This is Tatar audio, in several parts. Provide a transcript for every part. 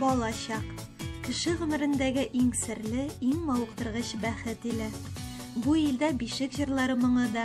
Балачак. Кеше гомерендәге иң серле, иң мавыктыргыч бәхет иле. Бу илдә бишек җырлары моңы да,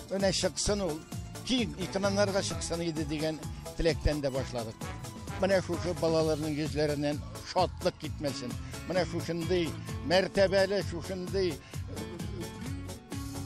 Менә чыксын ул, киң экраннарга чыксын иде дигән теләктән дә башладык. Менә шушы балаларның йөзләреннән шатлык китмәсен. Менә шушындый мәртәбәле, шушындый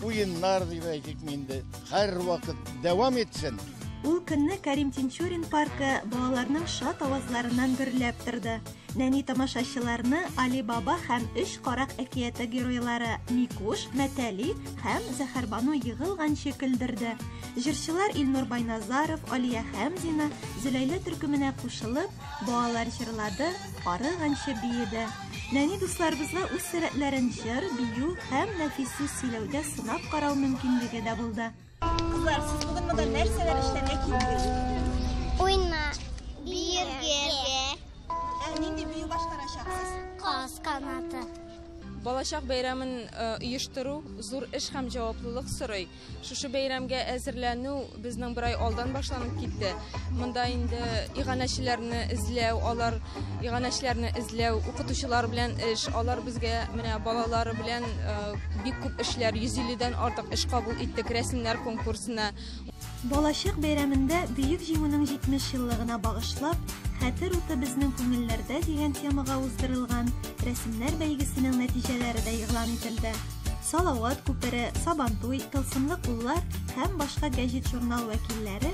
уеннар дип әйтик инде, һәрвакыт дәвам итсен. Ул көнне Кәрим Тинчурин паркы балаларның шат авазларыннан гөрләп торды. Нәни тамашачыларны Алибаба һәм өч карак әкияте геройлары Микуш, Мәтәли һәм Зәһәрбану егылганчы көлдерде. Җырчылар Илнур Байназаров, Алия Хәмзина, Зөләйлә төркеменә кушылып, балалар җырлады, арыганчы биеде. Нәни дусларыбызга үз сәләтләрен җыр, бию һәм нәфис сүз сөйләүдә сынап карау мөмкинлеге дә булды. Кызлар, сез бүген монда нәрсәләр эшләргә килдегез? Уйна. Биергә. Ә нинди бию башкарачаксыз? Каз канаты. Балачак бәйрәмен оештыру зур эш һәм җаваплылык сорый. Шушы бәйрәмгә әзерләнү безнең бер ай алдан башланып китте. Монда инде иганәчеләрне эзләү, алар Иганәчеләрне эзләү, укытучылар белән эш, алар безгә менә балалар белән э, бик күп эшләр, 150 дән артык эш кабул иттек, рәсемнәр конкурсына. Балачак бәйрәмендә Бөек Җиңүнең 70 еллыгына багышлап, Хәтер уты безнең күңелләрдә дигән темага уздырылган рәсемнәр бәйгесенең нәтиҗәләре дә игълан ителде. Салават күпере, Сабантуй, Тылсымлы куллар һәм башка гәҗит-журнал вәкилләре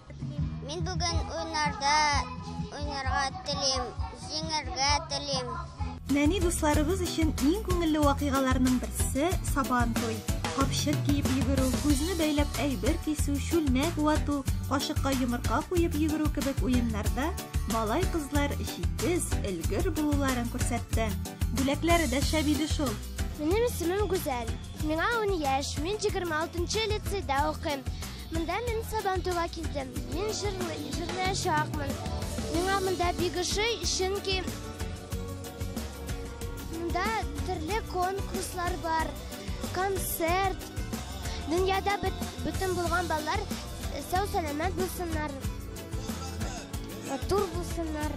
Мин бүген уйнарда уйнарга телим, җиңәргә телим. Нәни дусларыбыз өчен иң күңелле вакыйгаларның берсе сабан туй. Капчык киеп йөгерү, күзне бәйләп әйбер кисү, чүлмәк вату, кашыкка йомырка куеп йөгерү кебек уеннарда малай-кызлар җитез, өлгер булуларын күрсәтте. Бүләкләре дә шәп иде шул. Минем исемем Гүзәл. Миңа ун яшь, мин 26 нчы лицейда укыйм. Монда мин Сабантуйга килдем. Мин җырлый, җырлаячакмын. Миңа монда бик ошый, чөнки монда төрле конкурслар бар, концерт. Дөньяда бөтен булган балалар сау сәламәт булсыннар. Матур булсыннар.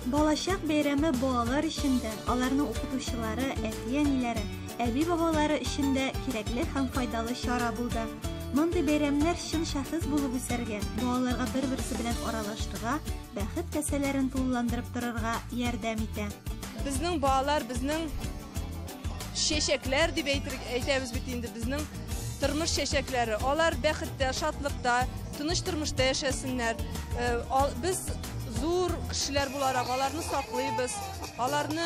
Балачак бәйрәме балалар өчен дә, аларның укытучылары, әти-әниләре әби-бабалары өчен дә кирәкле һәм файдалы чара булды. Мондый бәйрәмнәр чын шәхес булып үсәргә, балаларга бер-берсе белән аралашырга, бәхет касәләрен тулыландырып торырга ярдәм итә. Безнең балалар, безнең чәчәкләр дип әйтәбез бит инде, безнең тормыш чәчәкләре. Алар бәхеттә, шатлыкта, тыныч тормышта яшәсеннәр. Э, без зур кешеләр буларак аларны саклыйбыз, аларны